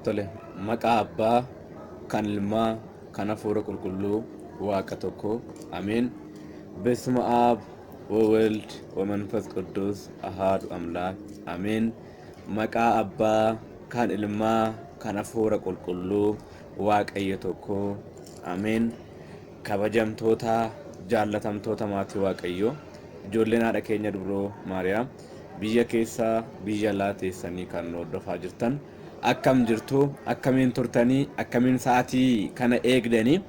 Tole, maqaa Abbaa, kan Ilmaa, kan Hafuura Qulqulluu, Waaqa tokko. Ameen. Besma Aab, Wawald, Wamanfas Quddus, Ahaadu Amlaak. Ameen. Maqaa Abbaa, kan Ilmaa, kan Hafuura Qulqulluu, Waaqayyo tokko. Ameen. Kabajamtoota, jaallatamtoota maatii Waaqayyoo, ijoolleen Haadha keenya Dubroo Maariyaam biyya keessa, biyya alaa teessanii kan nu hordofaa jirtan akkam jirtu? Akkamiin turtanii? Akkamiin sa'aatii kana eegdanii?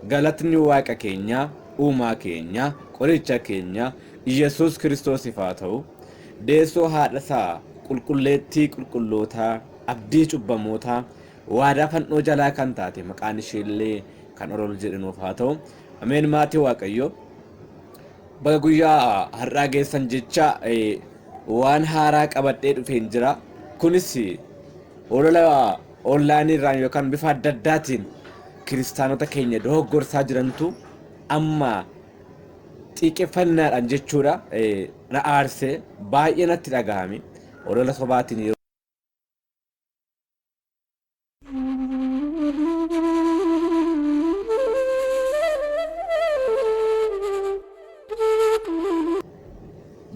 Galatni Waaqa keenyaa, Uumaa keenyaa, Qoricha keenyaa, Iyyasuus Kiristoosiif haa ta'u. Deessoo haadha isaa, qulqulleettii qulqullootaa, abdii cubbamootaa, Waadaa fannoo jalaa kan taate maqaan ishee illee kan olol jedhe nuuf haa ta'u. Ameen maatii waaqayyoo. Baga guyyaa har'aa geessan jecha waan haaraa qabadhee dhufeen jira. Kunis olola onlaayinii irraan yookaan bifa adda addaatiin kiristaanota keenya dogoggorsaa jirantu amma xiiqeffannaadhaan jechuudha na aarsee baay'ee natti dhagahame olola sobaatiin yeroo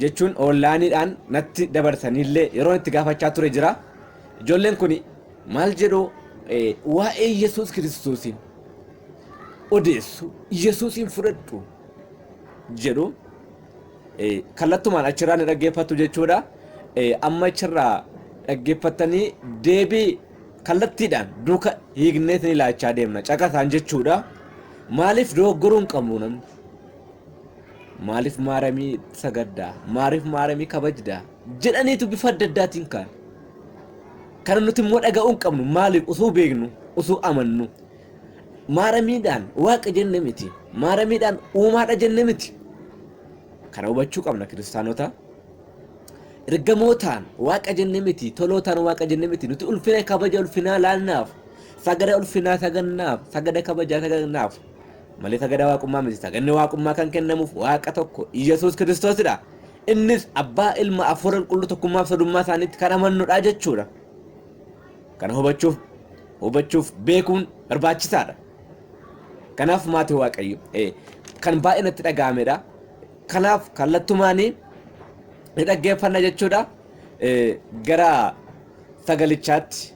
jechuun oonlaayiniidhaan natti dabarsaniillee yeroon itti gaafachaa ture jira. Ijoolleen kun maal jedhu waa'ee Yesuus Kiristoosiin odeessu Yesuusiin fudhadhu jedhu. kallattumaan achirraa ni dhaggeeffattu jechuudha. Amma achirraa dhaggeeffattanii deebii kallattiidhaan duuka hiikneet ni laachaa deemna caqasaan jechuudha. Maaliif dogoggoruu hin qabnu namni? Maaliif maaramii sagaddaa? Maaliif maaramii kabajdaa? Jedhaniitu bifa adda addaatiin kaan. Kana nuti immoo dhaga'uu hin qabnu maaliif usuu beeknu usuu amannu. Maaramiidhaan Waaqa jenne miti. Maaramiidhaan uumaadha jenne miti. Kana hubachuu qabna kiristaanota. Ergamootaan Waaqa jenne miti. Tolootaan Waaqa jenne miti. Nuti ulfina kabaja ulfinaa laannaaf. Sagada ulfinaa sagannaaf. Sagada kabajaa sagannaaf. Malee sagada waaqummaa miti. Saganni waaqummaa kan kennamuuf Waaqa tokko Iyyasuus Kiristoosidha. Innis Abbaa, Ilma, Hafuura Qulqulluu tokkummaaf sodummaa isaaniitti kan amannudha jechuudha. Kana hubachuuf hubachuuf beekuun barbaachisaadha. Kanaaf maatii waaqayyo eh, kan baay'ee natti dhaga'amedha. Kanaaf kallattumaanii ni dhaggeeffanna jechuudha. Eh, Gara sagalichaatti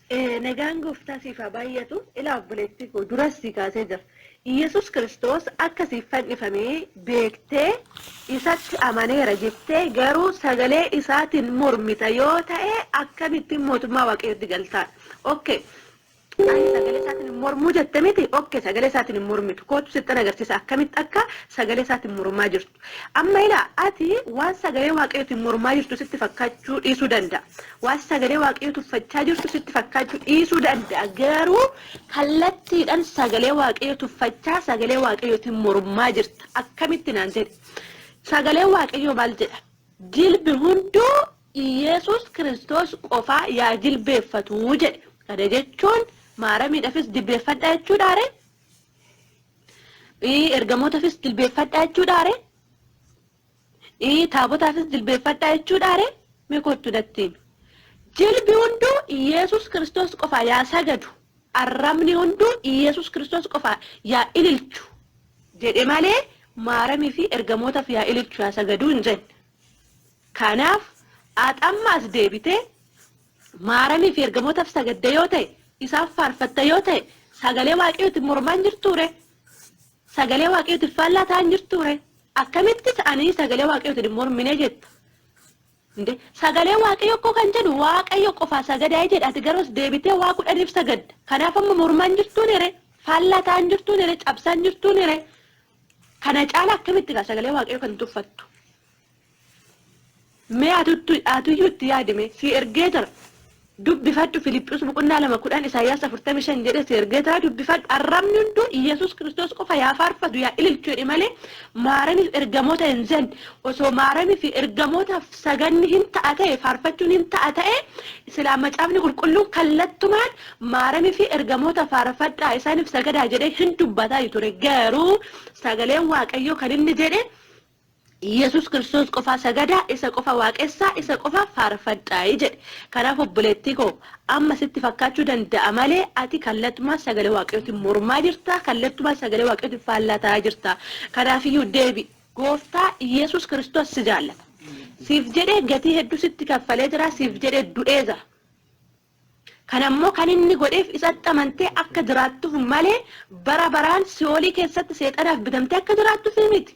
Nagaan gooftaa siif haa baay'atu. Ilaa obboleettii koo duras sii kaasee jira. Iyyasuus kiristoos akka siif fannifame beektee isatti amaneera jettee garuu sagalee isaatiin mormita yoo ta'e akkamittiin mootummaa waaqayyootti galtaa? Ok ani sagalee isaatiin hin mormuu jette miti ok sagalee isaatiin hin mormitu kootu sittan agarsiisa akkamitti akka sagalee isaatiin mormaa jirtu. Amma ilaa, ati waan sagalee Waaqayyootiin mormaa jirtu sitti fakkaachuu dhiisuu danda'a. Waan sagalee Waaqayyoo tuffachaa jirtu sitti fakkaachuu dhiisuu danda'a. Garuu kallattiidhaan sagalee Waaqayyoo tuffachaa, sagalee Waaqayyootiin mormaa jirta. Akkamitti naan jedhi. Sagaleen Waaqayyoo maal jedha? Jilbi hunduu Iyeesuus Kiristoos qofaa yaa jilbeeffatuu jedhe. Kana jechuun maaramiidhafis jilbeeffadhaa jechuudhaaree? Ergamootafis jilbeeffadhaa jechuudhaa ree? Taabotaafis jilbeeffadhaa jechuudhaa ree? Mee kottu natti himi. Jilbi hunduu Iyeesus Kiristoos qofaa yaa sagadu, arrabni hunduu Iyeesus Kiristoos qofaa yaa ililchu jedhe malee Maaramii fi ergamootaf yaa ililchu yaa sagaduu hin jenne. Kanaaf at amma as deebitee Maaramiif ergamootaf sagadda yoo ta'e, isaan faarfatta yoo ta'e, sagalee Waaqayyootin mormaa hin jirtuu ree? Sagalee Waaqayyootin faallaa ta'aa hin jirtuu ree? Akkamittis ani sagalee Waaqayyootin hin mormine jetta? Inde sagalee Waaqayyo koo kan jedhu Waaqayyo qofaa sagadaa jedha ati garuus deebitee waa kudhaniif sagadda. Kanaaf amma mormaa hin jirtuu nire? Faallaa ta'aa hin jirtuu nire? Cabsaa hin jirtuu nire? Kana caala akkamitti gaa sagalee Waaqayyo kan tuffattu? Mee atuyyuu itti yaadi mee. Sii ergee jira. Dubbifadhu Filiphus boqonnaa 2 10 Isaayyaas 45 jedhee sii ergee jira dubbifadhu arrabni hunduu Iyyasuus Kiristoos qofa yaa faarfatu yaa ililchu jedhe malee maaramiif ergamoota hin jenne osoo maaramiif ergamootaaf saganni hin ta'a ta'e faarfachuun hin ta'a ta'e silaa macaafni qulqulluun kallattumaan maaramiif ergamoota faarfadhaa isaaniif sagadaa jedhee hin dubbataa ture garuu sagaleen waaqayyoo kan inni jedhe Yesus Kiristoos qofaa sagadaa, isa qofa waaqessaa, isa qofa faarfadhaayi jedhe. Kanaaf obboleettii koo, amma sitti fakkaachuu danda'a malee ati kallattumaan sagalee Waaqayyootiin mormaa jirta, kallattumaan sagalee Waaqayyootiin faallaa ta'aa jirta. Kanaafiyyuu deebi'i. Gooftaa Yesus Kiristoos si jaallata. Siif jedhee gatii hedduu sitti kaffalee jira, siif jedhee du'ee jira. Kana immoo kan inni godheef isatti amantee akka jiraattuuf malee bara baraan si'oolii keessatti seexanaaf bitamtee akka jiraattuuf miti.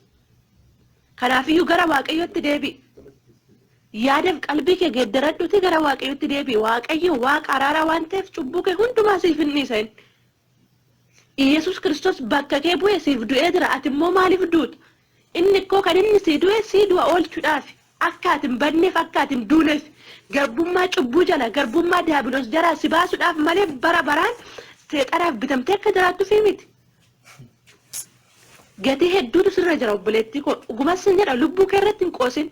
Kanaaf iyyuu gara Waaqayyootti deebi'i. Yaadaf qalbii kee geeddaradhuutii gara Waaqayyootti deebi'i. Waaqayyo Waaqa araaraa waan ta'eef cubbuu kee hundumaa siif hin dhiisa inni. Iyyasuus Kiristoos bakka kee bu'ee siif du'ee jira ati immoo maaliif duuta? Inni koo kan inni sii du'e sii du'a oolchudhaafi. Akka ati hin badneef akka ati hin duuneef. Garbummaa cubbuu jalaa garbummaa diyaabiloos jalaa si baasudhaaf malee bara baraan seexanaaf bitamtee akka jiraattufi miti. Gatii hedduutu sirra jira obboleettii koo dhuguma sin jedha lubbuu kee irratti hin qoosin.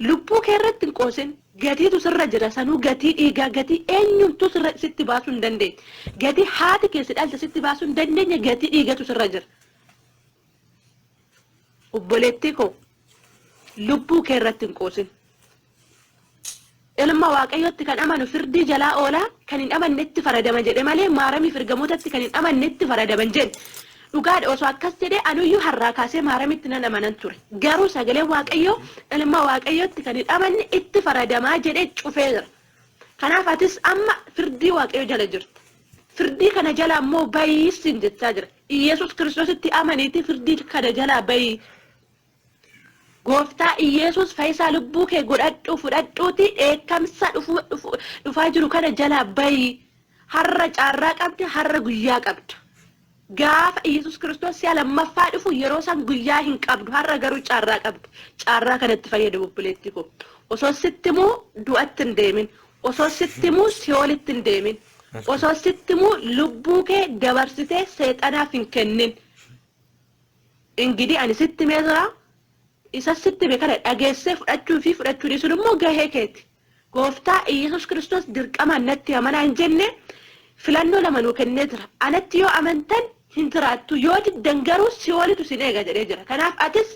Lubbuu kee irratti hin qoosin. Gatiitu sirra jira. Sanuu gatii dhiigaa, gatii eenyumtuu sirra sitti baasuu hin dandeenye. Gatii haati kee si dhalte sitti baasuu hin dandeenye gatii dhiigatu sirra jira. Obboleettii koo lubbuu kee irratti hin qoosin. C. Ilma Waaqayyootti kan amanu firdii jalaa oola, kan hin amannetti faradama jedhe malee Maaramiif ergamootatti kan hin amannetti faradama hin jenne. Dhugaadha osoo akkas jedhee anuyyuu harraa kaasee Maaramitti nan amanan ture. Garuu sagaleen Waaqayyoo ilma Waaqayyootti kan hin amanne itti faradamaa jedhee cufee jira. Kanaaf atis amma firdii Waaqayyoo jala jirta. Firdii kana jalaa immoo bahi siin jechaa jira. Iyyasuus Kiristoositti amaniitii firdii kana jalaa bahi. Gooftaa Iyeesuus fayisaa lubbuu kee godhadhuu fudhadhuuti dheekkamsa dhufaa jiru kana jalaa bayi harra caarraa qabda harra guyyaa qabda gaafa Iyeesuus kiristoos si'a lammaffaa dhufu yeroo san guyyaa hin qabdu harra garuu caarraa qabda caarraa kanatti fayyadami obboleettii koo osoo sitti muu du'atti hin deemin osoo sitti muu si'oolitti hin deemin osoo sitti muu lubbuu kee dabarsitee seexanaaf hin kennin Ingidi ani sitti himee jira, isa sitti hime kana dhageessee fudhachuu fi fudhachuu dhiisuun immoo gahee keeti. Gooftaa Iyyesuus Kiristoos dirqamaan natti amanaa hin jenne, filannoo lama nuu kennee jira. Anatti yoo amantan hin jiraattu, yoo diddan garuu si'oolitu isin eega jedhee jira. Kanaaf atis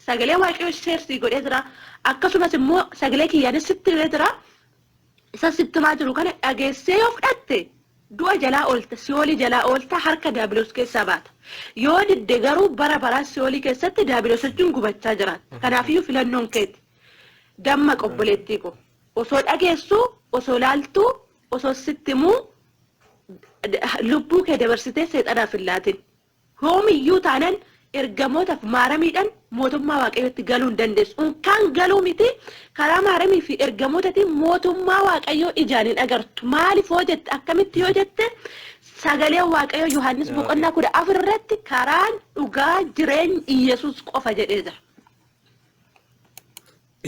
sagalee Waaqayyoo share sii godhee jira, akkasumas immoo sagalee kiyyaanis sitti himee jira. Isa sitti himaa jiru kana dhageessee yoo fudhatte, du'a jalaa oolta, si'oolii jalaa oolta, harka daabiloos keessaa baata. Yoo didde garuu bara baraan si'oolii keessatti daabiloos wajjin gubachaa jiraatta. Kanaafiyyuu filannoon keeti. Dammaqi obboleettii koo. Osoo dhageessuu, osoo laaltuu, osoo sitti himuu lubbuu kee dabarsitee seexanaaf hin laatin. Hoomiyyuu taanan ergamootaf maaramiidhan mootummaa waaqayyootti galuu hin dandeessu. Unkaan galuu miti karaa maaramii fi ergamootatiin mootummaa waaqayyoo ijaan hin agartu. Maalif hoo jette akkamitti yoo jette sagalee waaqayyoo Yohaannis boqonnaa kudha afur irratti karaan dhugaa jireenya Iyyasuus qofa jedhee jira.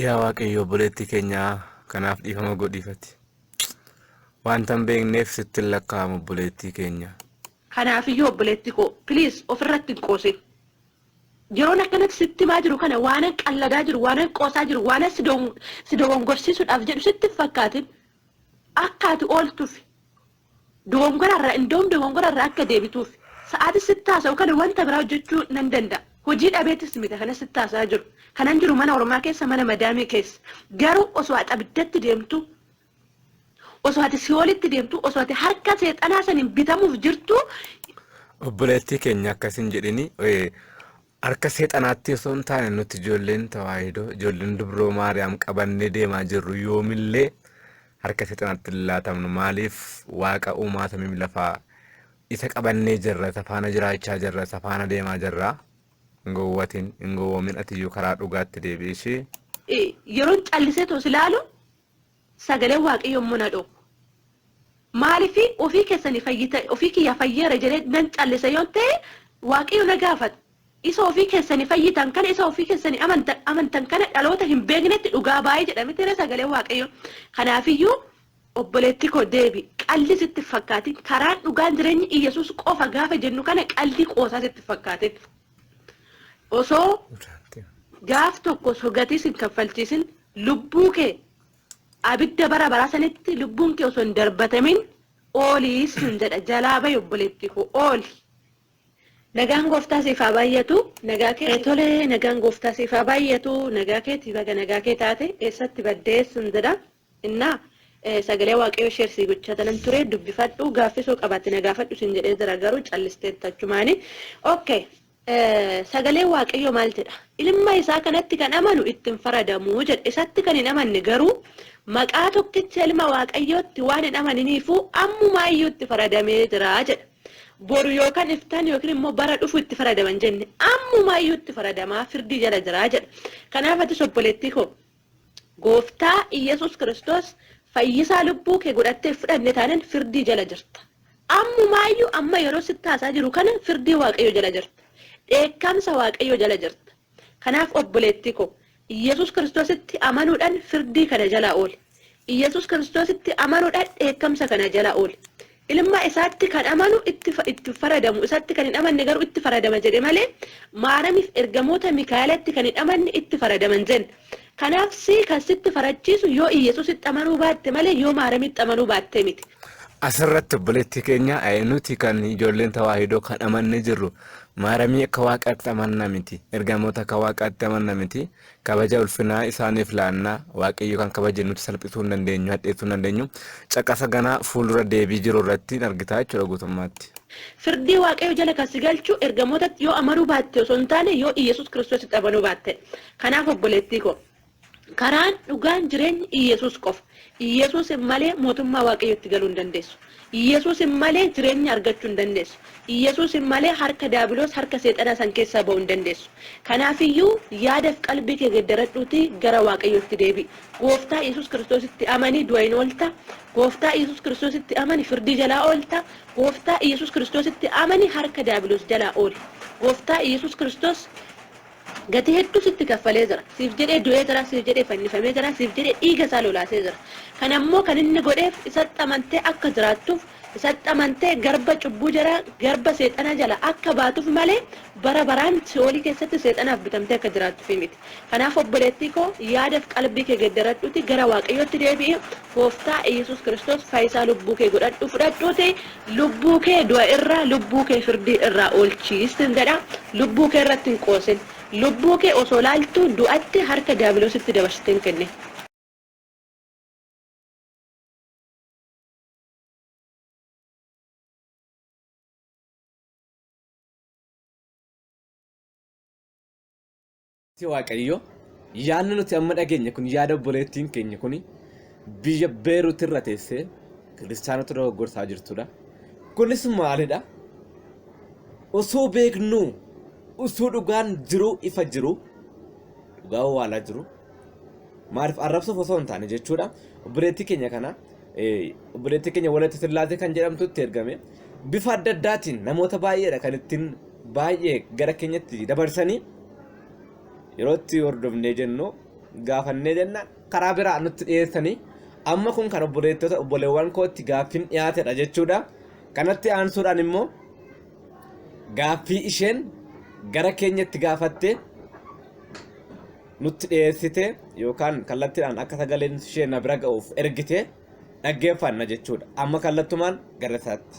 Yaa waaqayyo obboleettii keenya kanaaf dhiifama godhiifati. Wanta hin beekneef sitti hin lakkaa'amu obboleettii keenya. Kanaafiyyuu obboleetti koo please ofirratti hin qoosin. Yeroon akkanatti sitti himaa jiru kana waanan qalladaa jiru, waanan qoosaa jiru, waanan si dogon- si dogongorsiisuudhaaf jedhu sitti hin fakkaatin. Akka ati ooltufi. Dogongorarraa indoom dogongorarraa akka deebituuf sa'aatii sitti haasa'u kana wanta biraa hojjechuu nan danda'a. Hojii dhabeetis miti kana sitti haasa'aa jiru. Kanan jiru mana ormaa keessa mana madaamii keessa. Garuu osoo ati abiddatti deemtu Osoo ati si'oolitti deemtu, osoo ati harka seexanaa saniin bitamuuf jirtu, Obboleettii keenya akkas hin jedhini. Eh, Harka seexanaatti osoo hin taane nuti ijoolleen tawaahidoo, ijoolleen dubroo Maariyaam qabannee deemaa jirru yoomillee harka seexanaatti hin laatamnu. Maaliif waaqa uumaa samii fi lafaa isa qabannee jirra, isa faana jiraachaa jirra, isa faana deemaa jirra. Hin gowwatin, hin gowwoomin atiyyuu karaa dhugaatti deebi'i ishii. eh, yeroon callisee toos ilaalu Sagaleen Waaqayyoo immoo na dhowwa. Maaliif ofii keessanii fayyita, ofii kiyyaa fayyeera jedhee nan callisa yoon ta'e, Waaqayyo na gaafata. Isa ofii keessanii fayyitan kana, isa ofii keessanii amantan, amantan kana dhaloota hin beeknetti dhugaa baa'i jedha mitiree sagaleen Waaqayyoo. Kanaafiyyuu obboleettii koo deebi, qalli sitti hin fakkaatin. Karaan dhugaan jireenyi Iyyasuus qofa gaafa jennu kana qalli qoosaa sitti hin fakkaatin. osoo gaaf tokko sogatis hin kaffalchiisin lubbuu kee abidda bara baraa sanitti lubbuun kee osoo hin darbatamin oolii sun jedha jalaa bahi obboleettii koo ooli. Nagaan gooftaa siif haa baay'atu nagaa kee tole nagaan gooftaa siif haa baay'atu nagaa keeti baga nagaa kee taate eessatti baddee sun jedha. Innaa sagalee waaqayyoo share sii gochaa tanan turee dubbifadhu gaaffii soo qabaatte na gaafadhu siin jedhee jira garuu callisteetta achumaani ok sagalee waaqayyoo maal jedha ilma isaa kanatti kan amanu itti hin faradamu jedha isatti kan hin amanne garuu maqaa tokkicha ilma waaqayyootti waan hin amaniniifuu ammumaayyuu itti faradamee jira jedha boru yookaan iftaan yookiin immoo bara dhufu itti faradaman jenne ammumaayyuu itti faradamaa firdii jala jira jedha kanaaf atis obboleettii koo Gooftaa Iyyasuus Kiristoos fayyisaa lubbuu kee godhattee fudhanne taanan firdii jala jirta. Ammumaayyuu amma yeroo sitti haasaa jiru kana firdii Waaqayyoo jala jirta. Dheekkamsa Waaqayyoo jala jirta. Kanaaf obboleettii koo Iyyasuus Kiristoositti amanuudhaan firdii kana jalaa ooli. Iyyasuus Kiristoositti amanuudhaan dheekkamsa kana jalaa ooli. Ilma isaatti kan amanu itti hin faradamu, isatti kan hin amanne garuu itti faradama jedhe malee Maaramiif ergamoota Mikaa'elatti kan hin amanne itti faradama hin jenne. Kanaaf si kan sitti farachiisu yoo Iyyasuusitti amanuu baatte malee yoo Maaramitti amanuu baattee miti. Asirratti obboleettii keenya nuti kan ijoolleen Tawaahidoo kan amannee jirru Maaramii akka Waaqaatti amanna miti, ergamoota akka Waaqaatti amanna miti. Kabaja ulfinaa isaaniif laanna. Waaqayyo kan kabaje nuti salphisuu hin dandeenyu, hadheessuu hin dandeenyu. Caqasa ganaa fuuldura deebii jiru irratti hin argitaa jechuudha guutummaatti. Firdii Waaqayyo jala kan si galchu ergamootatti yoo amanuu baatte osoo hin taane yoo Iyyesuus Kiristoositti amanuu baattedha. Kanaaf obboleettii koo karaan, dhugaan, jireenyi Iyyesuus qofa. Iyyesuusin malee mootummaa Waaqayyootti galuu hin dandeessu. Iyyasuusin malee jireenya argachu hin dandeessu. Iyyasuusin malee harka daabiloos, harka seexanaa san keessaa ba'u hin dandeessu. Kanaafiyyuu yaadaf qalbii kee geddaradhuutii gara Waaqayyootti deebi'i. Gooftaa Iyyasuus Kiristoositti amani du'a hin oolta. Gooftaa Iyyasuus Kiristoositti amani firdii jalaa oolta. Gooftaa Iyyasuus Kiristoositti amani harka daabiloos jalaa ooli. Gooftaa Iyyasuus Kiristoos Gatii hedduu sitti kaffalee jira. Siif jedhee du'ee jira, siif jedhee fannifamee jira, siif jedhee dhiiga isaa lolaasee jira. Kana immoo kan inni godheef isatti amantee akka jiraattuuf, isatti amantee garba cubbuu jalaa, garba seexanaa jalaa akka baatuuf malee bara baraan si'oolii keessatti seexanaaf bitamtee akka jiraattuuf miti. Kanaaf obboleettii koo yaada fi qalbii kee geddaradhuutii gara Waaqayyootti deebi'i, Gooftaa Iyyasuus Kiristoos fayisaa lubbuu kee godhadhu fudhadhuuti lubbuu kee du'a irraa lubbuu kee firdii irraa oolchii sin jedha lubbuu kee irratti hin qoosin lubbuu kee osoo laaltuu du'atti harka diyaabiloositti dabarsitee hin kennin. Ati Waaqayyo, yaadni nuti amma dhageenye kun yaada obboleettiin keenya kun biyya Beerut irra teessee kiristaanota dogoggorsaa jirtudha. Kunis maalidha? Osoo beeknuu, osoo dhugaan jiruu ifa jiru, dhugaa owwaalaa jiru. Maaliif arrabsuuf osoo hin taane jechuudha. Obboleettii keenya kana obboleettii keenya walatti sillaasee kan jedhamtutti ergame bifa adda addaatiin namoota baay'eedha kan ittiin baay'ee gara keenyatti dabarsanii yeroo itti hordofnee jennu gaafannee jenna karaa biraa nutti dhiyeessanii amma kun kan obboleettota obboleewwan kootti gaaffiin dhiyaatedha jechuudha kanatti aansuudhaan immoo gaaffii isheen gara keenyatti gaafatte nutti dhiyeessite yookaan kallattiidhaan akka sagaleen ishee na bira ga'uuf ergite dhaggeeffanna jechuudha. Amma kallattumaan gara isaatti.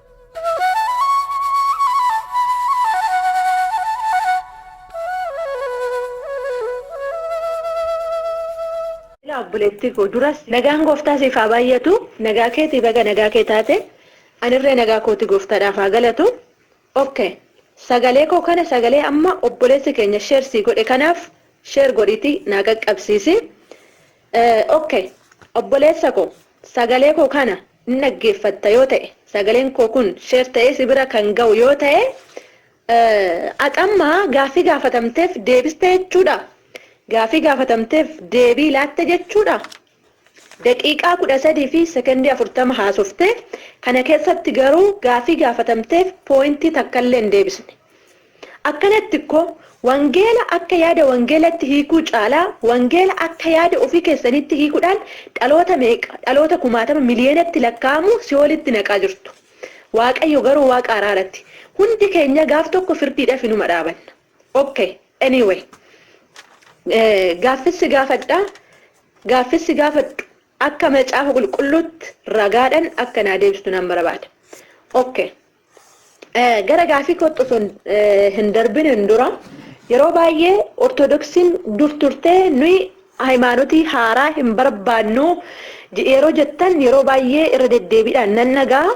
Yaa obboleettii koo duras nagaan gooftaa siif haa baay'atu nagaa keetii baga nagaa kee taate anirree nagaa kooti gooftaadhaaf haa galatu ok sagalee koo kana sagalee amma obboleessi keenya sheer sii godhe kanaaf sheer godhiitii naa qaqqabsiisi ok obboleessa koo sagalee koo kana Ni dhaggeeffatta yoo ta'e sagaleen koo kun share ta'ee si bira kan ga'u yoo ta'e ati amma gaaffii gaafatamteef deebiste jechuudha? Gaaffii gaafatamteef deebii laatte jechuudha? Daqiiqaa 13 fi sekondii 40 haasofte, kana keessatti garuu gaaffii gaafatamteef pooyintii takkallee hin deebisne. Akkanatti kkoo, wangeela akka yaada wangeelatti hiikuu caalaa, wangeela akka yaada ofii keessaniitti hiikudhaan dhaloota meeqa, dhaloota kumaatama miliyeenatti lakkaa'amu si'oolitti naqaa jirtu. Waaqayyo garuu Waaqa araarati. Hundi keenya gaaf tokko firdiidhaf inuma dhaabanna. Ok, anyway. Gaaffis si gaafadha, gaaffis si gaafadhu akka macaafa qulqulluutti ragaadhan akka naa deebistu nan barabaada. Ok. Gara gaaffii kootti osoo hin darbiniin dura yeroo baay'ee Ortodoksiin dur turtee nuyi hayimaanotii haaraa hin barbaannu yeroo jettan yeroo baay'ee irra deddeebiidhaan nan dhaga'a.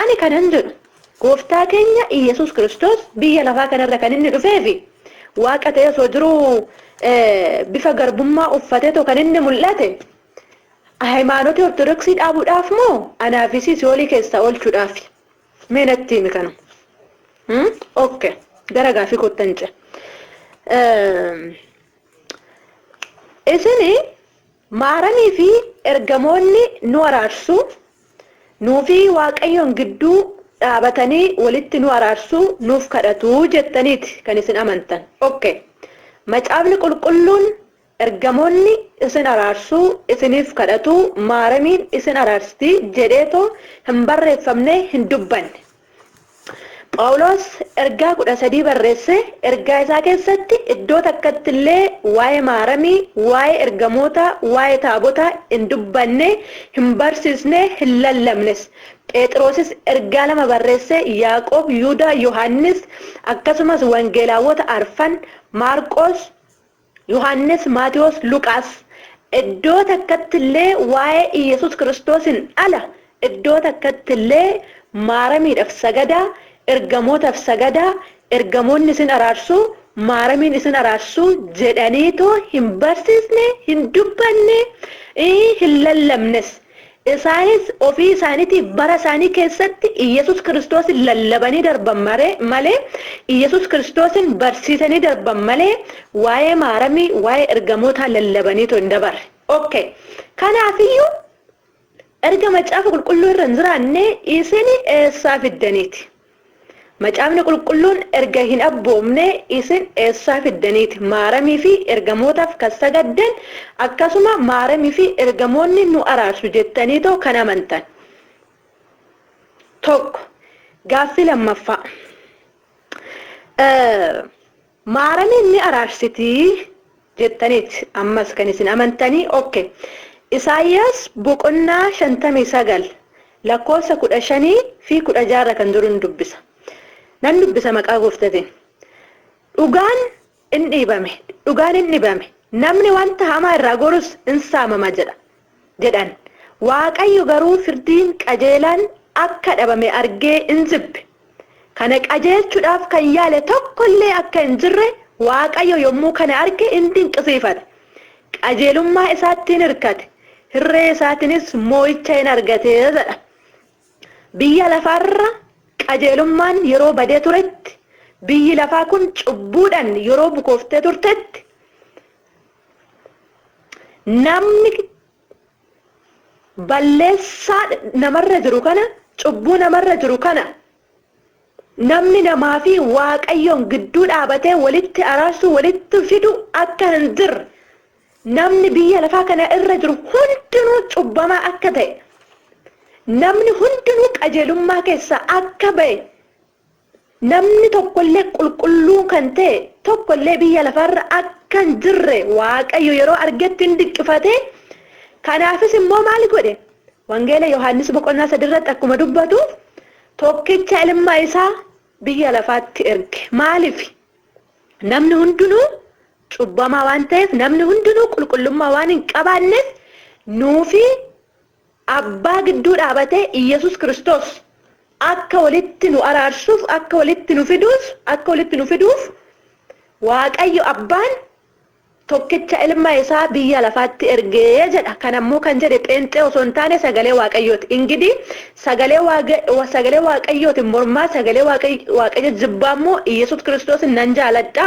Ani kanan jedhu gooftaa keenya Iyyasuus Kiristoos biyya lafaa kanarra kan inni dhufee fi waaqa ta'ee osoo jiruu bifa garbummaa uffateetoo kan inni mul'ate Hayimaanoti ortodoksii dhaabudhaaf moo anaa fi sii si'oolii keessaa oolchudhaafi? Mee natti himi kana. Hmm? Ok. Gara gaafii koottan ce. Isini maaramii fi ergamoonni nu araarsu, nuu fi waaqayyoon gidduu dhaabatanii walitti nu araarsu, nuuf kadhatu jettaniiti kan isin amantan. Ok. Macaafni qulqulluun Ergamoonni isin araarsuu isiniif kadhatuu maaramiin isin araarsti jedheetoo hin barreeffamne hin dubbanne. Phaawuloos ergaa 13 barreesse ergaa isaa keessatti iddoo takkatti illee waa'ee maaramii, waa'ee ergamootaa, waa'ee taabotaa hin dubbanne, hin barsiisne, hin lallabnes. Pheexiroosis ergaa lama barreesse Yaaqoob, Yuudaa, Yohaannis akkasumas wangeelaawwota arfan, Maarqoos, Yohaannis, Maatewos, Luqaas iddoo takkatti illee waa'ee Iyyasuus Kiristoosiin ala iddoo takkatti illee Maaramiidhaf sagadaa, Ergamootaf sagadaa, Ergamoonni isin araarsu, Maaramiin isin araarsu jedhaniitoo hin barsiisne, hin dubbanne, hin lallabnes. Isaanis ofii isaaniitiif bara isaanii keessatti Iyyasuus Kiristoosin lallabanii darban malee, Iyyasuus Kiristoosin barsiisanii darban malee, waa'ee Maaramii, waa'ee ergamootaa lallabaniitoo hin dabarre. Ok. Kanaaf iyyuu erga Macaafa Qulqulluu irra hin jiraanne isin eessaa fiddaniiti? Macaafni Qulqulluun erga hin abboomnee isin eessaa fiddaniiti Maaramii fi ergamootaaf kan sagaddan akkasuma Maaramii fi ergamoonni nu araarsu jettaniitoo kan amantan? 1, Gaaffii 2ffaa. Maaramiin ni araarsiti jettaniit ammas kan isin amantani ok Isaayyaas boqonnaa 59 lakkoofsa 15 fi 16 irra kan jirun dubbisa nan dubbisa maqaa gooftatin dhugaan in dhiibame dhugaan in dhibame namni wanta hamaa irraa gorus in saamama jedha jedhan. Waaqayyo garuu firdiin qajeelaan akka dhabame argee in jibbe. Kana qajeelchuudhaaf kan yaale tokko illee akka hin jirre Waaqayyo yommuu kana arge in dinqisiifate. Qajeelummaa isaatti in hirkate, hirree isaatiinis moo'icha in argate jedha. Biyya lafaa irra qajeelummaan yeroo badee turetti, biyyi lafaa kun cubbuudhaan yeroo bukooftee turtetti, Namni balleessaa namarra jiru kana cubbuu namarra jiru kana namni namaa fi waaqayyoon gidduu dhaabatee walitti araarsuu walitti fidu akka hin jirre namni biyya lafaa kana irra jiru hundinuu cubbamaa akka ta'e namni hundinuu qajeelummaa keessaa akka ba'e Namni tokko illee qulqulluun kan ta'e tokko illee biyya lafaa irra akka hin jirre Waaqayyo yeroo argetti in dinqifate, kanaafis immoo maal godhe? Wangeela Yohaannis boqonnaa 3 irratti akkuma dubbatu tokkicha ilma isaa biyya lafaatti erge. Maaliif? Namni hundinuu cubbamaa waan ta'eef, namni hundinuu qulqullummaa waan hin qabaanneef nuufi Abbaa gidduu dhaabatee Iyyesuus Kiristoos akka walitti nu araarsuuf, akka walitti nu fiduus, akka walitti nu fiduuf Waaqayyo Abbaan tokkicha ilma isaa biyya lafaatti erge jedha. Kana immoo kan jedhe pheenxee osoo hin taane sagalee Waaqayyooti. Ingidii sagalee Waaga, sagalee Waaqayyootiin mormaa, sagalee Waaqay, Waaqayyo jibbaa immoo Iyyesuus Kiristoosin nan jaaladha.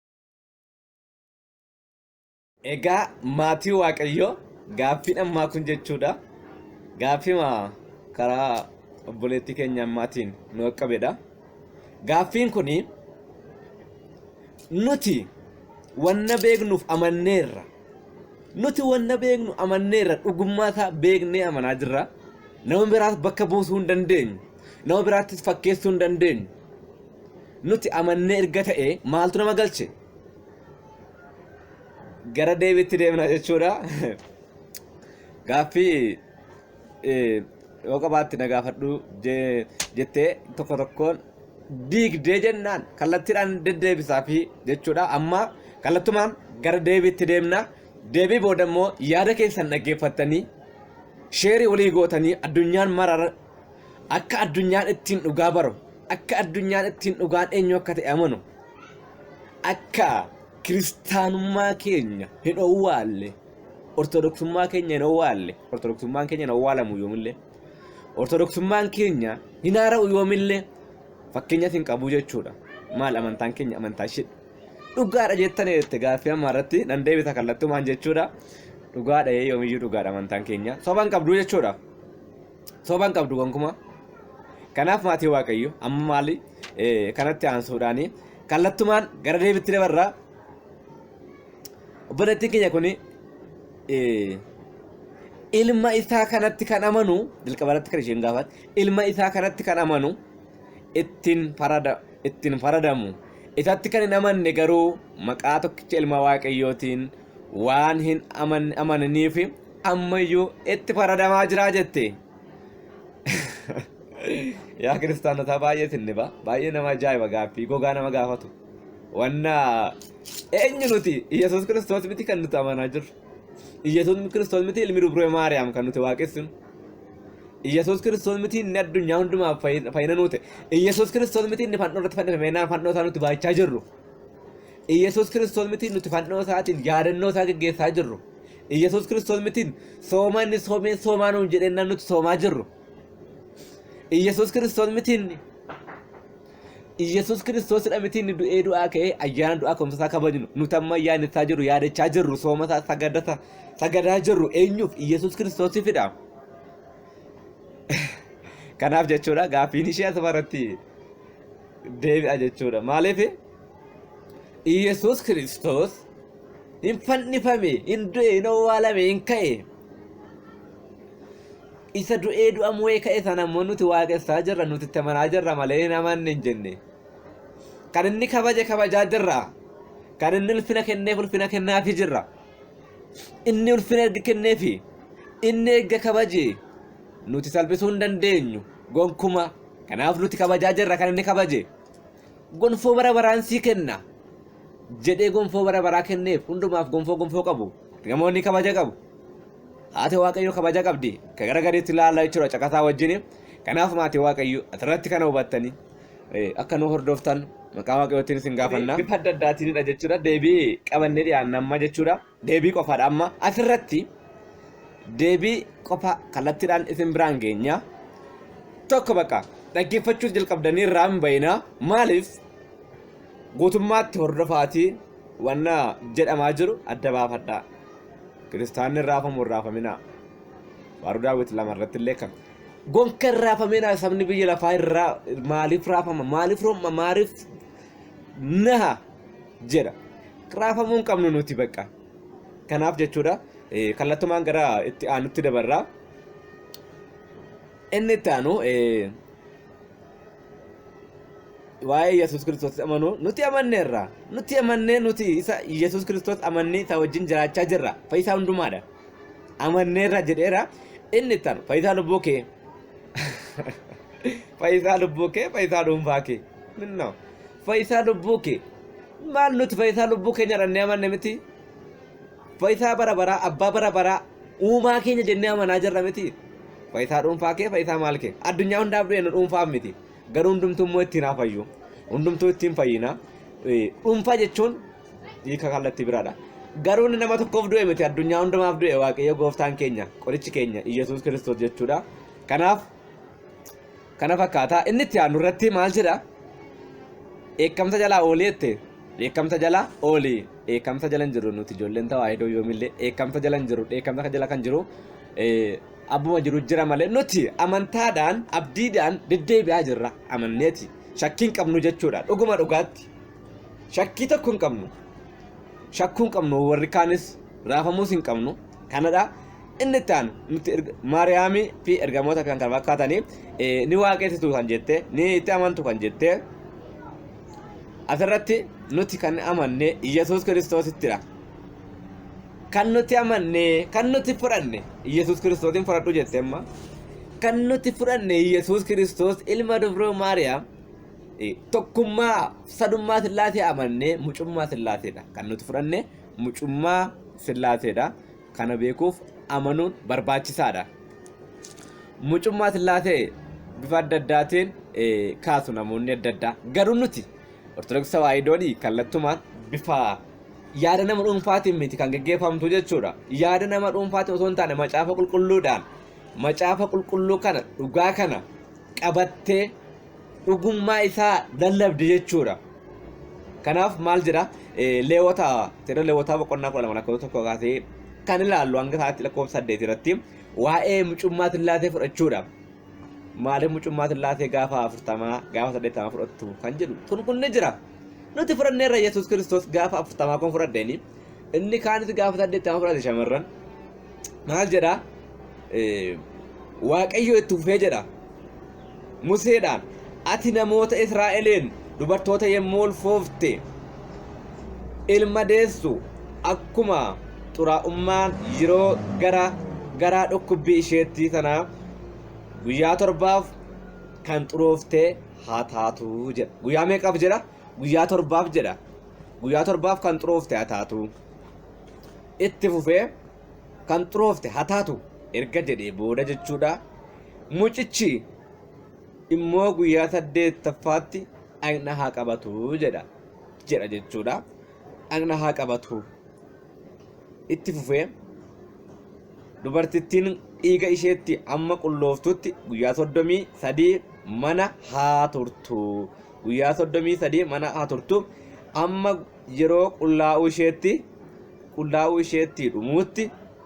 Egaa maatii Waaqayyoo gaaffiin ammaa kun jechuudha. Gaaffima karaa obboleettii keenya ammaatiin nu qaqqabedha. Gaaffiin kun nuti wanna beeknuuf amanneerra. Nuti wanna beeknu amanneerra dhugummaa isaa beeknee amanaa jirra. Nama biraas bakka buusuu hin dandeenyu. Nama biraattis fakkeessuu hin dandeenyu. Nuti amannee erga ta'e maaltu nama galche? Gara deebiitti deemna jechuudha. Gaaffii eh, yoo qabaatti na gaafadhu je- jettee tokko tokkoon diigdee jennaan kallattiidhaan deddeebisaa fi jechuudha. Amma kallattumaan gara deebiitti deemna. Deebii booda immoo yaada keessan dhaggeeffattanii sheerii walii gootanii addunyaan mara Akka addunyaan ittiin dhugaa baru, akka addunyaan ittiin dhugaan eenyu akka ta'e amanu, akka kiristaanummaa keenya hin owwaalle, ortodoksummaa keenya hin owwaalle, ortodoksummaan keenya hin owwaalamu yoomillee, ortodoksummaan keenya hin haara'u yoomillee fakkeenyas hin qabu jechuudha. Maal amantaan keenya amantaa ishee dhugaadha jettanii jette gaaffii ammaa irratti nan deebisa kallattumaan jechuudha. Dhugaadha yoomiyyuu dhugaadha amantaan keenya soba hin qabdu jechuudha. Soban qabdu gonkumaa. Kanaaf maatii Waaqayyo amma maali eh, kanatti aansuudhaani kallattumaan gara deebitti dabarra. Obboleettiin keenya kuni eh, ilma isaa kanatti kan amanu jalqaba irratti kan isheen gaafate ilma isaa kanatti kan amanu ittiin farada ittiin faradamu isatti kan hin amanne garuu maqaa tokkicha ilma waaqayyootiin waan hin aman- amananiif ammayyuu itti faradamaa jira jette. Yaa kiristaanotaa baay'ee sinniba baay'ee nama ajaa'iba gaaffii gogaa nama gaafatu. Wanna eenyu nuti Iyyasuus kiristoos miti kan nuti amanaa jirru. Iyyasuus kiristoos miti ilmi dubree Maariyaam kan nuti waaqessinu. Iyyasuus kiristoos miti inni addunyaa hundumaaf fayyina fayyina nuu ta'e. Iyyasuus kiristoos miti inni fannoo irratti fannifamee naa fannoo isaa nuti baachaa jirru. Iyyasuus kiristoos miti nuti fannoo isaatiin yaadannoo isaa geggeessaa jirru. Iyyasuus Kiristoos mitiin sooma inni soomee soomaa nuun jedhee nan nuti soomaa jirru. Iyyasuus Kiristoos mitiin Iyyasuus Kiristoosidha mitiin inni du'ee du'aa ka'ee ayyaana du'aa ka'umsa isaa kabajnu nuti amma ayyaaneffachaa jirru yaadachaa jirru sooma isaa sagadata sagadaa jirru eenyuuf Iyyasuus Kiristoosifidha. Kanaaf jechuudha gaaffiin ishee asuma irratti deebi'a jechuudha. Maaliif? Iyyasuus Kiristoos hin fannifame, hin du'e, hin owwaalame, hin ka'e. Isa du'ee du'a mo'ee ka'e sana immoo nuti waaqessaa jirra, nuti itti amanaa jirra malee hin amanne hin jenne. Kan inni kabaje kabajaa jirra. Kan inni ulfina kenneef ulfina kennaafi jirra. Inni ulfina erga kenneefi inni erga kabaje nuti salphisuu hin dandeenyu gonkuma. Kanaaf nuti kabajaa jirra kan inni kabaje. gonfoo bara baraan sii kenna jedhee gonfoo bara baraa kenneef hundumaaf gonfoo gonfoo qabu ergamoonni kabaja qabu haati waaqayyo kabaja qabdi ka gara gadiitti ilaalla jechuudha caqasaa wajjin kanaaf maatii waaqayyo asirratti kana hubattanii eh, akka nu hordoftan maqaa waaqayyootiin isin gaafanna bifa adda addaatiinidha jechuudha deebii qabannee dhiyaanna amma jechuudha deebii qofaadha amma asirratti deebii qofa kallattiidhaan isin biraan geenya tokko bakka dhaggeeffachuus jalqabdanii irraa hin bayinaa maaliif guutummaatti hordofaatii wanna jedhamaa jiru adda baafadhaa kiristaanni hin raafamu hin raafaminaa faaruu daawwit lama irratti illee kan gonka hin raafaminaa sabni biyya lafaa irraa maaliif raafama maaliif romma maaliif naha jedha raafamuu hin qabnu nuti bakka kanaaf jechuudha eh, kallattumaan gara itti aanutti dabarraa inni itti aanu eh, waa'ee yesus kiristoos amanu nuti amanneerra nuti amannee nuti isa yesus kiristoos amannee isa wajjin jiraachaa jirra fayyisaa hundumaadha amanneerra jedheera inni itti aanu fayyisaa lubbuu kee fayyisaa lubbuu kee fayyisaa dhuunfaa kee Minna. Fayyisaa lubbuu kee. Maal nuti fayyisaa lubbuu keenya dhannee amanne miti. Fayyisaa bara baraa, abbaa bara baraa, uumaa keenya jennee amanaa jirra miti. Fayyisaa dhuunfaa kee, fayyisaa maal kee. Addunyaa hundaaf du'e nu dhuunfaaf miti. Garuu hundumtuu immoo ittiin haa fayyu. Hundumtuu ittiin fayyina. Eh, Dhuunfaa jechuun hiika kallattii biraadha. Garuu inni nama tokkoof du'e miti. Addunyaa hundumaaf du'e Waaqayyo gooftaan keenya, qorichi keenya, Iyyasuus Kiristoos jechuudha. Kanaaf kana fakkaata inni itti aanu irratti maal jedha dheekkamsa jalaa oolii jette dheekkamsa jalaa oolii dheekkamsa jala hin jiru nuti ijoolleen tawaahidoo yoomillee dheekkamsa jala hin jiru dheekkamsa kan jala kan jiru eh, abbuma jiru jira malee nuti amantaadhaan abdiidhaan deddeebi'aa jirra amanneeti shakkii hin qabnu jechuudha dhuguma dhugaatti shakkii tokko hin qabnu shakkuu hin qabnu warri kaanis raafamuus hin qabnu kanadha. Inni itti aanu nutti erga- Maariyaamii fi ergamoota kan kana fakkaatanii eh, ni waaqessitu kan jette ni itti amantu kan jette asirratti nuti kan amanne Yesuus Kiristoosittidha. Kan nuti amanne kan nuti fudhanne Yesuus Kiristoosin fudhadhu jette amma. Kan nuti fudhanne Yesuus Kiristoos ilma dubroo Maariyaam eh, tokkummaa sadummaa Sillaasee amannee mucummaa Sillaaseedha kan nuti fudhanne mucummaa Sillaaseedha. Kana beekuuf amanuun barbaachisaadha. Mucummaa Sillaasee bifa adda addaatiin kaasu namoonni adda addaa. Garuu nuti Ortodoksii Tawaahidoon kallattumaan bifa yaada nama dhuunfaatiin miti kan geggeeffamtu jechuudha. Yaada nama dhuunfaatiin osoo hin taane macaafa qulqulluudhaan macaafa qulqulluu kana dhugaa kana qabattee dhugummaa isaa lallabde jechuudha. Kanaaf maal jedha leewwota seera leewwotaa boqonnaa kudha lama lakkoofsa tokko kaasee kan ilaallu hanga isaatti lakkoofsa saddeet irratti waa'ee mucummaa sillaasee fudhachuudha. Maaliif mucummaa sillaasee gaafa afurtamaa gaafa saddeettamaa fudhattu kan jedhu tun kun ni jira. Nuti fudhanneerra Yesuus Kiristoos gaafa afurtamaa kun fudhadheeni inni kaanis gaafa saddeettamaa fudhate shamarran maal jedha waaqayyo itti fufee jedha museedhaan ati namoota israa'eliin dubartoota yommuu ulfoofte ilma deessu akkuma xuraa'ummaan yeroo gara garaa dhukkubbii isheetti sana guyyaa torbaaf kan xurooftee haa taatu jedha guyyaa meeqaaf jedha guyyaa torbaaf jedha guyyaa torbaaf kan xuroofte haa taatu Itti fufee kan xuroofte ha taatu erga jedhee booda jechuudha. Mucichi immoo guyyaa saddeettaffaatti dhaqna haa qabatu jedha jedha jechuudha. Dhaqna haa qabatu. Itti fufee dubartittiin dhiiga isheetti amma qullooftutti guyyaa soddomii sadii mana haa turtu. Guyyaa soddomii sadii mana haa turtu. Amma yeroo qullaa'uu isheetti qullaa'uu isheetti dhumuutti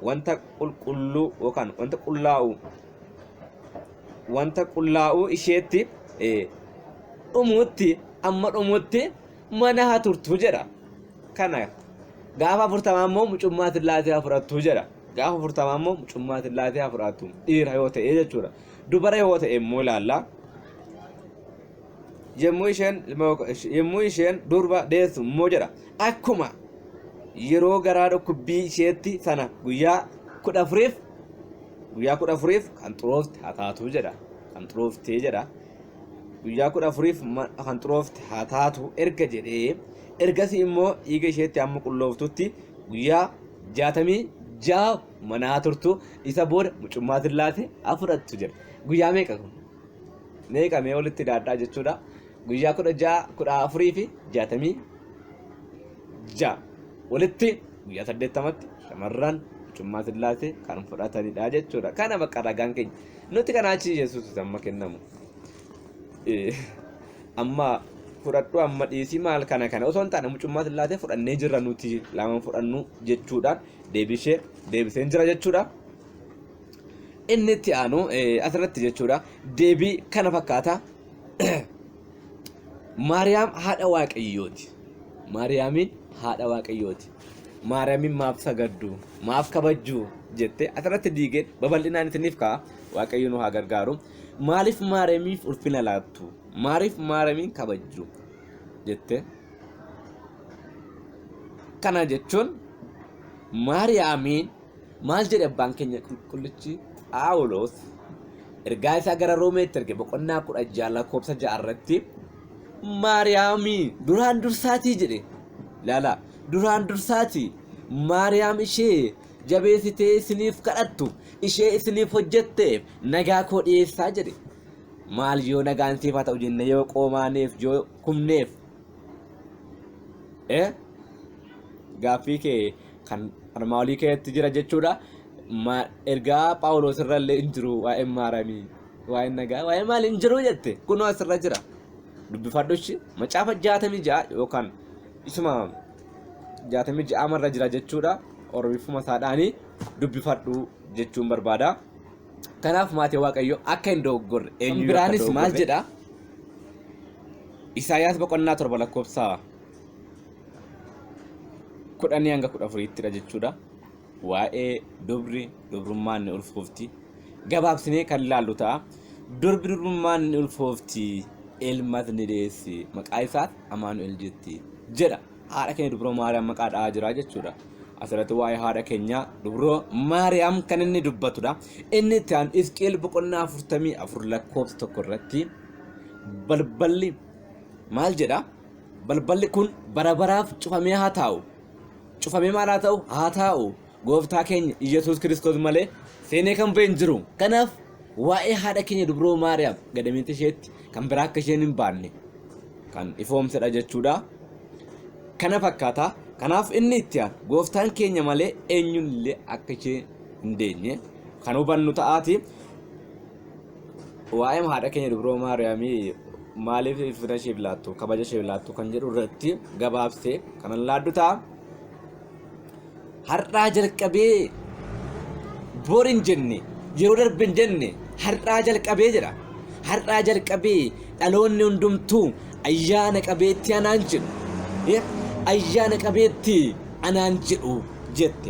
wanta qulqulluu yookaan wanta qullaa'u wanta qullaa'uu isheetti eh, dhumuutti amma dhumuutti mana haa turtu jedha kana gaafa afurtamaa immoo mucummaa sillaasee haa fudhattu jedha gaafa afurtamaa immoo mucummaa sillaasee haa fudhattu dhiira yoo ta'e jechuudha dubara yoo ta'e immoo ilaalla yommuu isheen ilma yommuu isheen durba deessu immoo jedha akkuma yeroo garaa dhukkubbii isheetti sana guyyaa kudha afuriif guyyaa kudha afuriif kan xuroofte haa taatu jedha kan xurooftee jedha guyyaa kudha afuriif ma- kan xuroofte haa taatu erga jedhee ergasii immoo dhiiga isheetti amma qullooftutti guyyaa jaatamii ja'a manaa turtu isa booda mucummaa sillaase haa fudhattu jedha guyyaa meeqa kun meeqa mee olitti daadhaa jechuudha guyyaa kudha ja'a kudha afurii fi jaatamii ja'a walitti guyyaa saddeettamatti shamarran mucummaa sillaasee kan fudhatanidha jechuudha kana bakka ragaan keenya nuti kana achi yesuus amma kennamu amma fudhadhu amma dhiisii maal kana kana osoo hin taane mucummaa sillaasee fudhannee jirra nuti lamaan fudhannu jechuudhaan deebisee deebiseen jira jechuudha. Inni itti aanu asirratti jechuudha deebii kana fakkaata. Maariyaam haadha waaqayyooti. Maariyaamiin haadha waaqayyooti. Maariyaamiin maaf sagaddu? Maaf kabajju? jettee asirratti diigee babal'inaan isiniif ka'a. Waaqayyo nu haa gargaaru. Maaliif Maariyaamiif ulfina laattu? Maaliif Maariyaamiin kabajju? jettee. Kana jechuun Maariyaamiin Maal jedhe Abbaan keenya Qulqullichi Phaawulos ergaa isaa gara Roomeetti erge boqonnaa 16 lakkoofsa 6 irratti Maariyaamii duraan dursaatii jedhe. Laala duraan dursaatii Maariyaam ishee jabeessitee isiniif kadhattu ishee isiniif hojjetteef nagaa koo dhiyeessaa jedhe. Maal yoo nagaan siif haa ta'u jenne yoo qoomaaneef yoo kumneef eh? gaaffii kee kan armaa olii keessatti jira jechuudha. Ma- Ergaa Phaawulos irra illee hin jiru waa'een maaramii waa'een nagaa waa'een maal hin jiru jette kunoo asirra jira. Dubbifadhushi macaafa jaatamii ja'a yookaan isuma jaatamii ja'a marra jira jechuudha. Oromifuma isaadhaanii dubbifadhu jechuun barbaada. Kanaaf maatii waaqayyoo akka hin dogoggorre eenyu biraanis maal jedha? Isaayaas boqonnaa torba lakkoofsa kudhanii hanga kudha afuriittidha jechuudha. Waa'ee dubri dubrummaan ni ulfoofti. Gabaabsinee kan ilaallu ta'a. Durbi dubrummaan ni ulfoofti ilmas ni deessi maqaa isaas Amaanu'el jetti jedha. Haadha keenya dubroo Maariyaam maqaa dha'aa jira jechuudha. Asirratti waa'ee haadha keenya dubroo Maariyaam kan inni dubbatudha. Inni itti aanu Hisqi'eel boqonnaa afurtamii afur lakkoofsa tokko irratti balballi maal jedha? Balballi kun bara baraaf cufamee haa taa'u. Cufamee maal haa ta'u? Haa taa'u. Gooftaa keenya Iyyasuus Kiristoos malee seenee kan ba'e hin jiru. Kanaaf waa'ee haadha keenya dubroo Maariyaam gadameessa isheetti kan biraa akka isheen hin baanne kan ifoomsedha jechuudha. Kana fakkaata. Kanaaf inni itti aanu gooftaan keenya malee eenyuun illee akka ishee hin deenye kan hubannu ta'aati. Waa'eema haadha keenya dubroo Maariyaamii maaliif ulfina isheef laattu, kabaja isheef laattu kan jedhu irratti gabaabsee kanan laaddu ta'a. Har'aa jalqabee bor hin jenne, yeroo darbe hin jenne, har'aa jalqabee jedha. Har'aa jalqabee dhaloonni hundumtuu ayyaana qabeetti anaan jedhu. Eh, Ayyaana qabeetti anaan jedhu jette.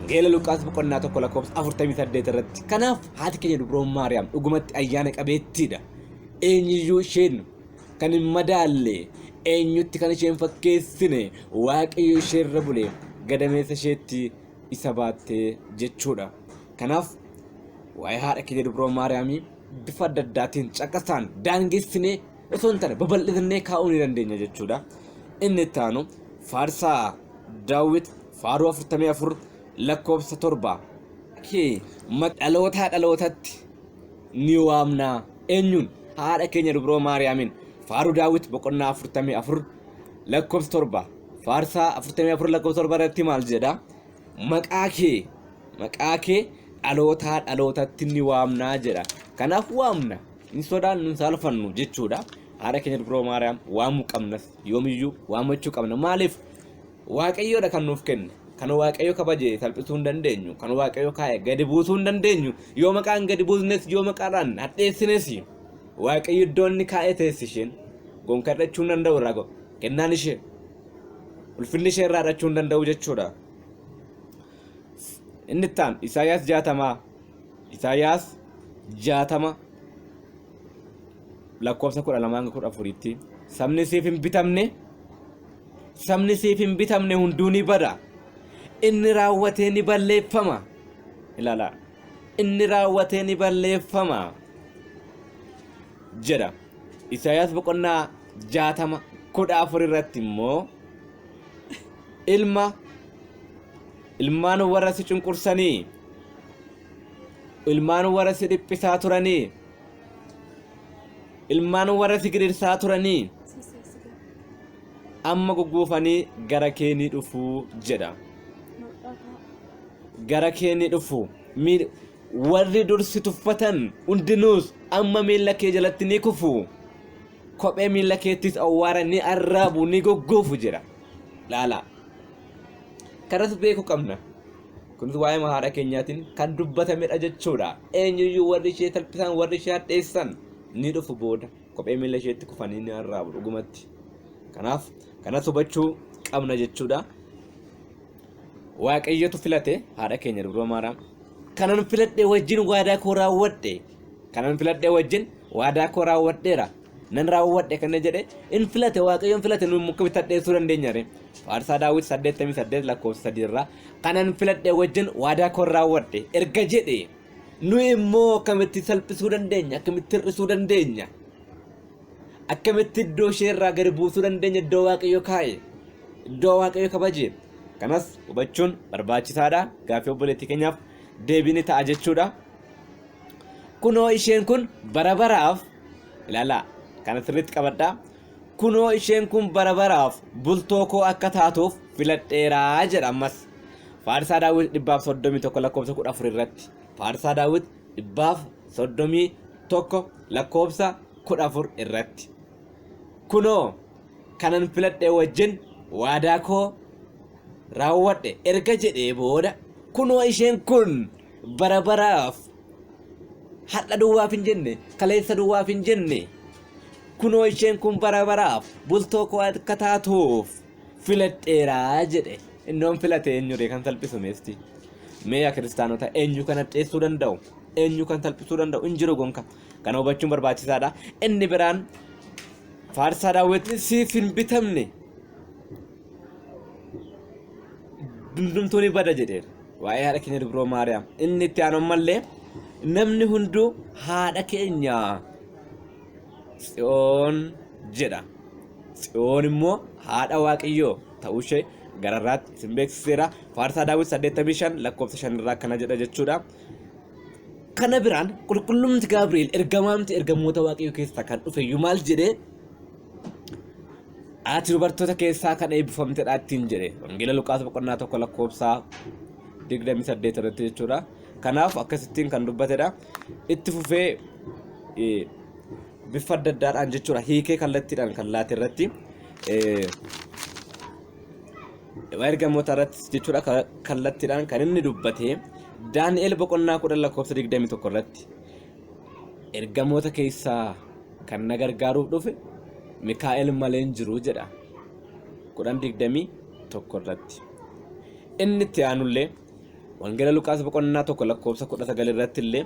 Geela Luqaas boqonnaa tokko lakkoofsa 48 irratti. Kanaaf Haati keenya Dubroon Maariyaam dhugumatti ayyaana qabeettiidha. Eenyuyyuu isheen kan hin madaalle, eenyutti kan isheen fakkeessine, Waaqayyo ishee irra bule gadameessa isheetti isa baatte jechuudha. Kanaaf waa'ee haadha keenya Dubroo Maariyaamii bifa adda addaatiin caqasaan daangessinee osoo hin taane babal'ifannee kaa'uu ni dandeenya jechuudha. Inni itti aanu faarsaa daawwit faaruu 44 lakkoofsa 7 kee ma- dhalootaa dhalootatti ni waamna eenyuun haadha keenya dubroo maariyaamiin faaruu daawwit boqonnaa 44 lakkoofsa 7 faarsaa 44 lakkoofsa 7 irratti maal jedha maqaa kee maqaa kee dhalootaa dhalootatti ni waamnaa jedha kanaaf waamna hin sodaan nun saalfannu jechuudha haadha keenya dubroo maariyaam waamuu qabnas yoomiyyuu waamachuu qabna maaliif Waaqayyoo dha kan nuuf kenne. Kan Waaqayyo kabaje salphisuu hin dandeenyu. Kan Waaqayyo kaa'e gadi buusuu hin dandeenyu. Yoo maqaan gadi buusnes yoo maqaadhaan hadheessines Waaqayyo iddoo inni kaa'e teessi isheen. Gonka hidhachuu hin danda'u irraa go- kennaan ishee. Ulfinni ishee irraa hidhachuu hin danda'u jechuudha. Inni itti aanu Isaayyaas jaatamaa. Isaayyaas jaatama lakkoofsa kudha lamaa hanga kudha afuriitti sabni siif hin bitamne Sabni siif hin bitamne hunduu ni bada. Inni raawwatee ni balleeffama. Ilaalaa. Inni raawwatee ni balleeffama. Jedha. Isaayaas boqonnaa jaatama kudha afur irratti immoo ilma ilmaan warra si cunqursanii ilmaan warra si dhiphisaa turanii ilmaan warra si gidirsaa turanii amma gugguufanii gara kee ni dhufu jedha. Gara kee ni dhufu. Miil- Warri dur si tuffatan hundinuus amma miila kee jalatti ni kufu. Kophee miila keettis awwaara ni arraabu ni gugguufu jedha. Laala. Kanas beekuu qabna. Kunis waa'ee haadha keenyaatiin kan dubbatamedha jechuudha. Eenyuyyuu warri ishee salphisan, warri ishee hadheessan ni dhufu booda. Kophee miila isheetti kufanii ni arraabu dhugumatti. Kanaaf kanas hubachuu qabna jechuudha. Waaqayyotu filate haadha keenya dubroo maaraam. Kanan filadhe wajjin waadaa koo raawwadhe. Kanan filadhe wajjin waadaa koo raawwadheera. nan raawwadhe kan jedhe in filate waaqayyoon filate nu akkamitti hadheessuu dandeenya ree faarsaa daawwiti 88 lakkoofsa 3 irraa kanan filadhe wajjin waadaa koon raawwadhe erga jedhe nu immoo akkamitti salphisuu dandeenya akkamitti hir'isuu dandeenya akkamitti iddoo ishee irraa gadi buusuu dandeenya iddoo waaqayyo kaa'e iddoo waaqayyo kabaje kanas hubachuun barbaachisaadha gaaffii obboleettii keenyaaf deebii ni ta'a jechuudha kunoo isheen kun bara baraaf Ilaalaa, kana sirriitti qabadhaa. Kunoo isheen kun bara baraaf bultoo koo akka taatuuf filadheeraa jedha ammas. Faarsaa Daawit dhibbaaf soddomii tokko lakkoofsa kudha afur irratti. Faarsaa Daawit dhibbaaf soddomii tokko lakkoofsa kudha afur irratti. Kunoo kanan filadhee wajjin waadaa koo raawwadhe erga jedhee booda kunoo isheen kun bara baraaf har'a duwwaaf hin jenne kaleessa duwwaaf hin jenne kunoo isheen kun bara baraaf bultoo koo akka taatuuf filadheeraa jedhe innoon filate eenyuree kan salphisu meesti mee yaa kiristaanota eenyu kan hadheessuu danda'u eenyu kan salphisuu danda'u hin jiru gonka kana hubachuun barbaachisaadha inni biraan faarsaa daawwitni siif hin bitamne hundumtuu ni bada jedheera waa'ee haadha keenya dubroo maariyaam inni itti aanu ammallee namni hunduu haadha keenya tsiyoon jedha tsiyoon immoo haadha waaqayyoo ta'uu ishee gararraatti isin beeksiseera faarsaa daawwit 85 lakkoofsa 5 irraa akkana jedha jechuudha kana biraan qulqullumti gaabri'eel ergamaamti ergamoota waaqayyoo keessaa kan dhufe iyyuu maal jedhee Ati dubartoota keessaa kan eebbifamtedha ittiin jedhe. Wangeela Luqaas boqonnaa tokko lakkoofsaa 28 irratti jechuudha. Kanaaf akkasittiin kan dubbatedha. Itti fufee eh, bifa adda addaadhaan jechuudha. Hiikee kallattiidhaan kan laate irratti eh, ergamoota irratti jechuudha ka- kallattiidhaan kan inni dubbate Daani'el boqonnaa 10 lakkoofsa 21 irratti Ergamoota keessaa kan na gargaaruuf dhufe Mikaa'el malee hin jiru jedha 10:21 irratti. Inni itti aanullee Wangeela Luqaas boqonnaa 1 lakkoofsa 19 irratti illee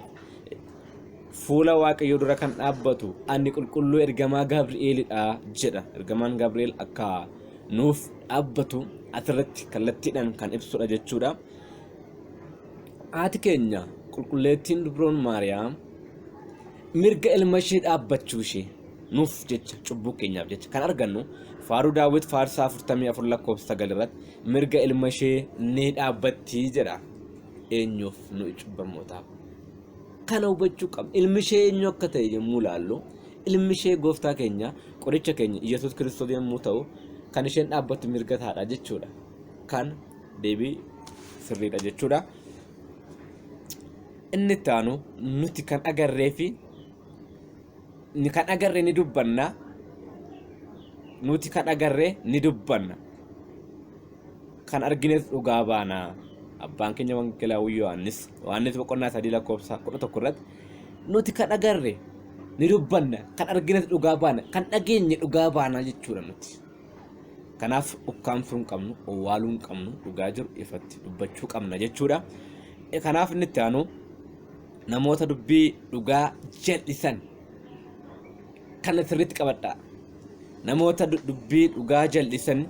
fuula Waaqayyoo dura kan dhaabbatu ani qulqulluu ergamaa Gabri'eelidha jedha. Ergamaan Gabri'eel akka nuuf dhaabbatu asirratti kallattiidhaan kan ibsudha jechuudha. Haati keenya qulqulleettiin dubroon Maariyaam mirga ilma ishee dhaabbachuu ishee nuuf jecha cubbuu keenyaaf jecha kan argannu faaruu daawwit faarsaa 44 lakkoofsa 9 irratti mirga ilma ishee ni dhaabbattii jedha eenyuuf nu cubbamootaaf kana hubachuu qabna ilmi ishee eenyu akka ta'e yommuu ilaallu ilmi ishee gooftaa keenya qoricha keenya yesus kiristoos yommuu ta'u kan isheen dhaabbattu mirga taadha jechuudha kan deebii sirriidha jechuudha. Inni itti aanu nuti kan agarree fi ni kan agarre ni dubbanna nuti kan agarre ni dubbanna kan argines dhugaa baana abbaan keenya wangeelaa Yohaannis Yohaannis boqonnaa sadii lakkoofsa kudha tokko irratti nuti kan agarre ni dubbanna kan argines dhugaa baana kan dhageenye dhugaa baana jechuudha nuti Kanaaf ukkaamsuu hin qabnu, owwaaluu hin qabnu, dhugaa jiru ifatti dubbachuu qabna jechuudha. E, Kanaaf inni itti aanu namoota dubbii dhugaa jal'isan kana sirriitti qabadha. Namoota du- dubbii dhugaa jal'isan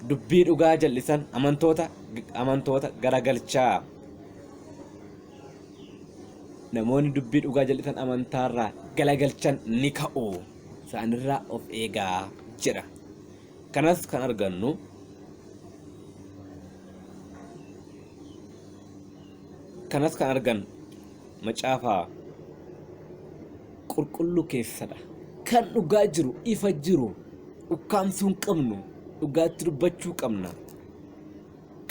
dubbii dhugaa jal'isan amantoota amantoota garagalchaa. Namoonni dubbii dhugaa jal'isan amantaarraa galagalchan ni ka'u. isaanirraa of eegaa jedha. Kanas kan argannu kanas kan argannu macaafa qulqulluu keessadha. Kan dhugaa jiru ifa jiru ukkaamsuu hin qabnu dhugaatti dubbachuu qabna.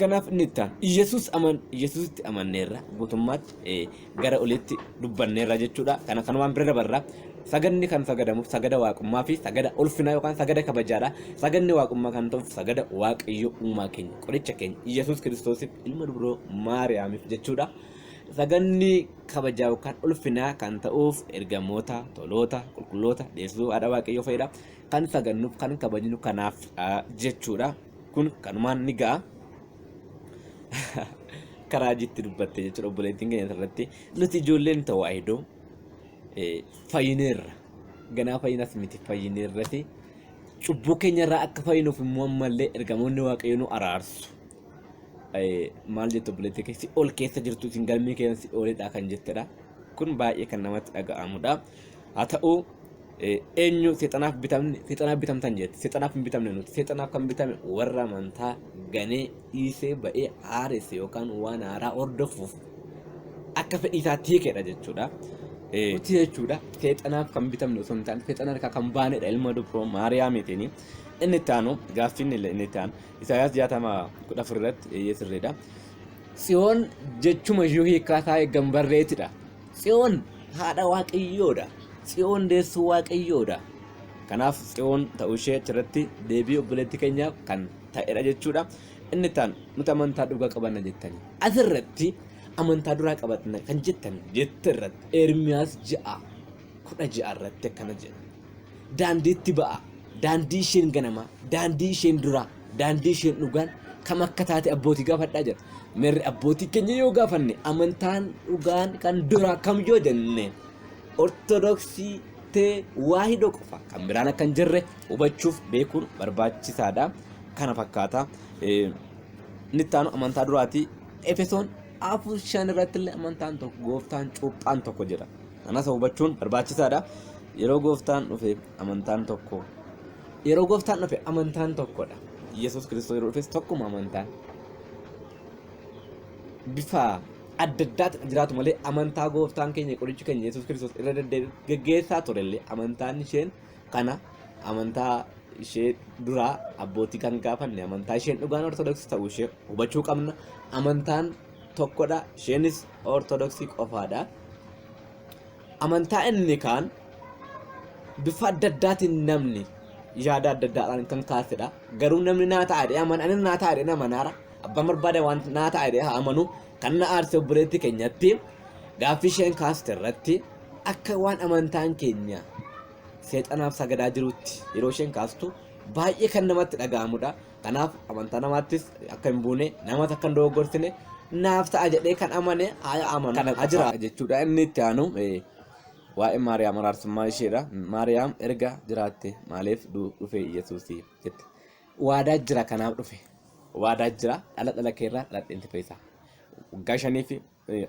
Kanaaf inni itti aanu Iyyasuus aman Iyyasuusitti amanneerra guutummaatti eh, gara oliitti dubbanneerra jechuudha. Kana kanumaan bira dabarra. Sagadni kan sagadamu sagada waaqummaa fi sagada ulfinaa yookaan sagada kabajaadha. Sagadni waaqummaa kan ta'uuf sagada waaqayyo uumaa keenya qoricha keenya Iyyasuus Kiristoosiif ilma dubroo Maariyaamiif jechuudha. Sagadni kabajaa yookaan ulfinaa kan ta'uuf ergamoota, toloota, qulqulloota, deessuu haadha waaqayyoo fa'idha. Kan sagadnuuf kan kabajnu kanaaf ah, jechuudha. Kun kanumaan ni ga'a. Karaa jitti dubbatte jechuudha obboleettiin keenya irratti. Nuti ijoolleen tawaahidoo fayyineerra. Ganaa fayyinas miti fayyineerrati. Cubbuu keenya irraa akka fayyinuuf immoo ammallee ergamoonni waaqayyoo nu araarsu. Maal jettu obboleettii keessi ol keessa jirtu isin galmii keessa ol olidha kan jettedha. Kun baay'ee kan namatti dhaga'amudha. haa ta'uu eenyu seexanaaf bitamne seexanaaf bitamtan jette seexanaaf hin bitamne nuti seexanaaf kan bitame warra amantaa ganee dhiisee ba'ee haaresse yookaan waan haaraa hordofuuf akka fedhii isaatti hiikedha jechuudha. Nuti jechuudha seexanaaf kan bitamne osoo hin taane seexana harkaa kan baanedha ilma dubroo maariyaamiitiin. Inni itti aanu gaaffiin inni itti aanu Isaayaas jaatama kudha afur irratti eeyyee sirriidha. Tsiyoon jechuma ishuu hiikaa isaa eeggan barreetidha. Tsiyoon haadha Waaqayyoo dha. Tsiyoon deessuu Waaqayyoo dha. Kanaaf Tsiyoon ta'uu ishee achirratti deebii obboleettii keenyaaf kan ta'edha jechuudha. Inni taan nuti amantaa dhugaa qabanna jettanii. Asirratti amantaa duraa qabatna kan jettan jette irratti Ermiyaas ja'a kudha ja'a irratti akkana jedha. daandiitti ba'aa, daandii isheen ganamaa, daandii isheen duraa, daandii isheen dhugaan kam akka taate abbootii gaafadhaa jedha. Mirri abbootii keenya yoo gaafanne amantaan dhugaan kan duraa kam yoo jenne ortodoksii tee waahidoo qofa kan biraan akka hin jirre hubachuuf beekuun barbaachisaadha. Kana fakkaata. Eh, Inni itti aanu amantaa duraati. Efesoon afur shan irratti illee amantaan tokko gooftaan cuuphaan tokko jira. Kanasa hubachuun barbaachisaadha. Yeroo gooftaan dhufe amantaan tokko. Yeroo gooftaan dhufe amantaan tokkodha. Yesuus Kiristoos yeroo dhufes tokkuma amantaan. Bifa adda addaatiin jiraatu malee amantaa gooftaan keenya qorichi keenya Yesuus Kiristoos irra deddeebiin geggeessaa turellee amantaan isheen kana amantaa ishee duraa abbootii kan gaafanne amantaa isheen dhugaan ortodoksii ta'uu ishee hubachuu qabna. Amantaan tokkodha isheenis ortodoksii qofaadha amantaa inni kaan bifa adda addaatiin namni yaada adda addaadhaan kan kaasedha garuu namni naa ta'a jedhee amana anis naa ta'a jedhee nama naara abbaan barbaade waan naa ta'a jedhee haa amanu kan na aarse obboleetti keenyatti gaaffii isheen kaaste irratti akka waan amantaan keenya seexanaaf sagadaa jirutti yeroo isheen kaastu baay'ee kan namatti dhaga'amudha. Kanaaf amantaa namaattis akka hin buune namas akka hin dogoggorsine naaf ta'a jedhee kan amane haa amanu kana haa jiraatu jechuudha. Inni itti aanu eh, waa'ee Maariyaam araarsummaa isheedha. Maariyaam erga jiraatte maaliif du- dhufe Yesuus jette. Waadaa jira kanaaf dhufe. Waadaa jira dhala dhala keerraa dhaladheen si fayyisa. Waggaa shanii fi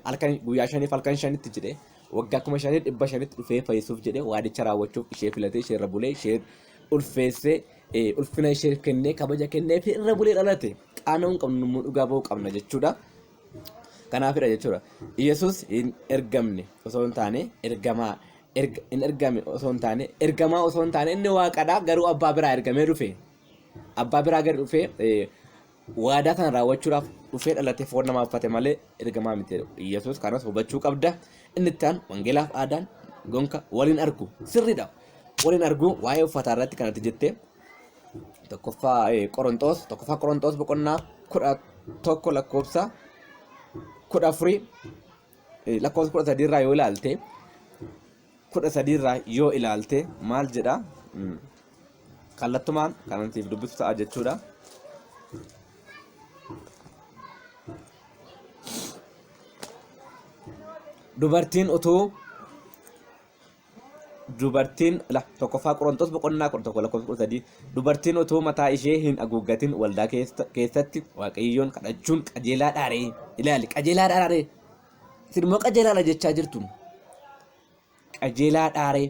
halkan guyyaa shaniif halkan shanitti jedhee waggaa kuma shanii dhibba shanitti dhufee fayyisuuf jedhee waadicha raawwachuuf ishee filatee ishee irra bulee ishee ulfeessee eh, ulfina ishee kennee kabaja kennee fi irra bulee dhalate qaana'uu hin qabnu immoo dhugaa ba'uu qabna jechuudha. Kanaafidha jechuudha. Yesus hin ergamne osoo hin taane ergamaa erga- hin ergame osoo hin taane ergamaa osoo hin taane inni waaqadha garuu abbaa biraa ergamee dhufe. Abbaa biraa gadi dhufee eh, Waadaa kana raawwachuudhaaf dhufee dhalatee foon namaa uffate malee ergamaa miti jedhu. Iyyasuus kanas hubachuu qabda. Inni itti aanu wangeelaaf aadaan gonka waliin argu sirriidha. Waliin argu waa'ee uffataa irratti kanatti jettee tokkoffaa Qoronxoos tokkoffaa Qoronxoos boqonnaa kudha tokko lakkoofsa kudha afurii lakkoofsa kudha sadii irraa yoo ilaalte kudha sadii irraa yoo ilaalte maal jedha Mm. kallattumaan kanan siif dubbisu ta'a jechuudha dubartiin utuu dubartiin la tokkoffaa qorontos boqonnaa kudha tokko lakkoofsa kudha sadii dubartiin utuu mataa ishee hin haguuggatin waldaa keessa- keessatti waaqayyoon kadhachuun qajeelaa dhaaree ilaali qajeelaa dhaaree Isin immoo qajeelaadha jechaa jirtu. Qajeelaa dhaaree.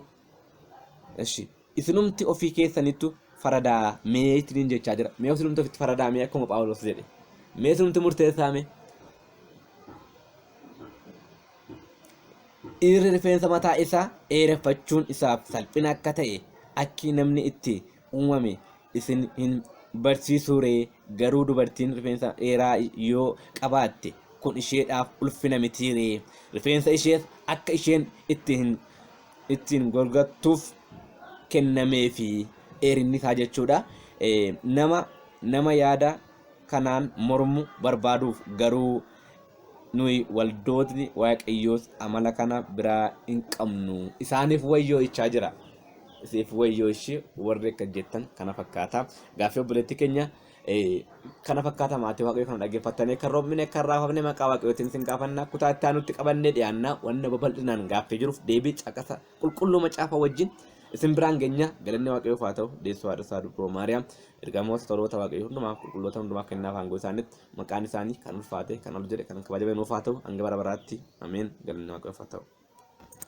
Eshi. Isinumti ofii keessanittu faradaa mee ittiin jechaa jira. Mee isinumti ofitti faradaa mee akkuma Phaawulos jedhe. Mee isinumti murteessaa mee. Dhiirri rifeensa mataa isaa dheereffachuun isaaf salphina akka ta'e akki namni itti uumame isin hin barsiisuu ree garuu dubartiin rifeensa dheeraa yoo qabaatte kun isheedhaaf ulfina mitii ree rifeensa ishees akka isheen itti hin ittiin golgattuuf kennamee fi dheerinni isaa jechuudha Eh, nama nama yaada kanaan mormu barbaaduuf garuu nuyi waldootni waaqayyoos amala kana biraa hin qabnu isaaniif wayyoo ichaa jira siif wayyoo ishii warri akka jettan kana fakkaata gaaffii obboleetti keenya eh, kana fakkaata maatii waaqayyoo kana dhaggeeffattanii kan roobmine kan raafamne maqaa waaqayyootiin sin gaafanna kutaa itti aanutti qabannee dhiyaanna wanna babal'inaan gaaffii jiruuf deebii caqasa qulqulluu macaafa wajjin isin biraan geenya galanni waaqayyoof haa ta'u deessuu haadha isaa dubroo maariyaam ergamoota toloota waaqayyoo hundumaa qulqulloota hundumaa kennaaf aangoo isaaniitti maqaan isaanii kan ulfaate kan ol jedhe kan kabajame nuuf haa ta'u hanga bara baraatti ameen galanni waaqayyoof haa ta'u.